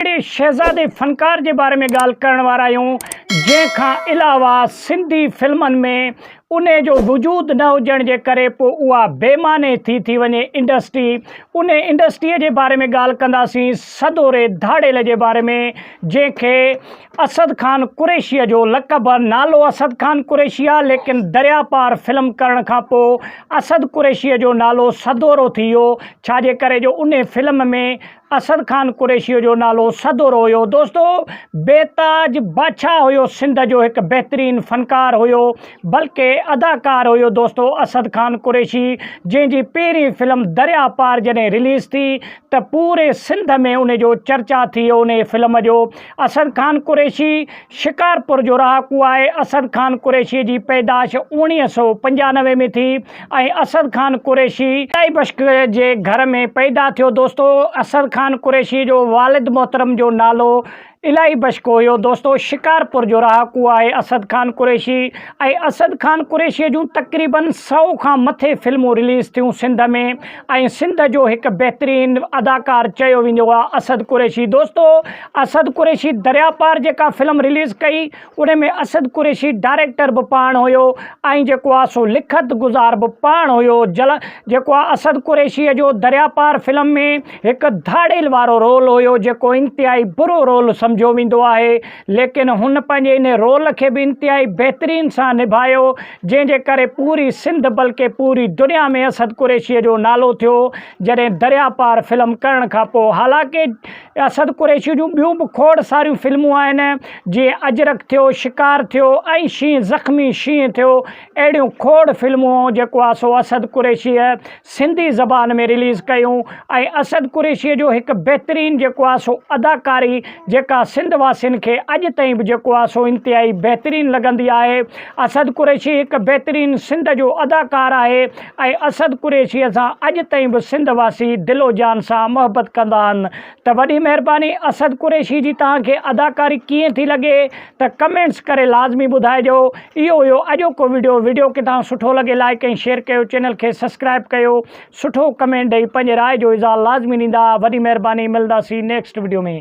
اهڙي شهزادي فنڪار جي باري ۾ ڳالهه ڪرڻ وارا آهيون جنهن کان علاوه سنڌي فلمن ۾ انهي جو وجود نه هجڻ جي ڪري پو اها بي معني ٿي ٿي وڃي انڊسٽري انهي انڊسٽري جي باري ۾ ڳالهه ڪنداسين سدوري ڌاڙيل جي باري ۾ جنهن کي اسد خان قريشيء جو لقب نالو اسد خان قريشي آ ليڪن دريا پار فلم ڪرڻ کان پو اسد قريشيء جو نالو سدورو ٿي ويو ڇا جي ڪري جو انهي فلم ۾ اسد خان قريشيء جو نالو سدور هيو. دوستو! بيتاج بادشاهه هيو سنڌ جو هڪ بهترين فنڪار هيو بلڪه اداڪار هيو دوستو اسد خان قريشي جنهن جي پهرين فلم دريا پار جڏهن رليز ٿي ته پوري سنڌ ۾ ان جو چرچا ٿي انهي فلم جو اسد خان قريشي شڪارپور جو رهاڪو آهي. اسد خان قريشيء جي پيدائش اوڻيهه سؤ پنجانوي ۾ ٿي ۽ اسد خان قريشي ادائي بخش جي گهر ۾ پيدا ٿيو. دوستو اسد خان قريشيء جو والد محترم جو نالو الاهي بخش هيو. دوستو شڪارپور جو رهاڪو آهي اسد خان قريشي ۽ اسد خان قريشيء جون تقريبن سؤ کان مٿي فلمون رليز ٿيون سنڌ ۾. ۽ سنڌ جو هڪ بهترين اداڪار چيو ويندو آ اسد قريشي دوستو اسد قريشي دريا پار جيڪا فلم رليز ڪئي ان ۾ اسد قريشي ڊائريڪٽر به پاڻ هيو ۽ جيڪو آ سو لکت گذار به پاڻ هيو جل جيڪو آ اسد قريشي جو دريا پار فلم ۾ هڪ ڌاڙيل وارو رول هيو جيڪو انتهائي برو رول سمجهيو ويندو آهي ليڪن هن پنهنجي ان رول کي به انتهائي بهترين سان نڀايو جنهن جي ڪري پوري سنڌ بلڪه پوري دنيا ۾ اسد قريشيء جو نالو ٿيو جڏهن درياء پار فلم ڪرڻ کان پوء حالانڪ اسد قريشيء جون ٻيون به کوڙ ساريون فلمون آهن جيئن اجرڪ ٿيو شڪار ٿيو ۽ شينهن زخمي شينهن ٿيو اهڙيون کوڙ فلمون جيڪو آسو اسد قريشيء سنڌي زبان ۾ رليز ڪيون ۽ اسد قريشيء جو هڪ بهترين جيڪو آ سو اداڪاري جيڪا سنڌ واسين کي اڄ تائين به جيڪو آ سو انتهائي بهترين لڳندي آهي اسد قريشي هڪ بهترين سنڌ جو اداڪار آهي ۽ اسد قريشيء سان اڄ تائين به سنڌ واسي دل و جان سان محبت ڪندا آهن ته وڏي مهرباني اسد قريشي جي توهان کي اداڪاري ڪيئن ٿي لڳي ته ڪمينٽس ڪري لازمي ٻڌائجو. اهو هيو اڄوڪو ويڊيو ويڊيو ڪي تان سٺو لڳي لائيڪ ۽ شيئر ڪيو چينل کي سسڪرائب ڪيو سٺو ڪمينٽ ڏئي پنهنجي راء جو اظهار لازمي ڏيندا وڏي مهرباني ملنداسين نيڪسٽ ويڊيو ۾.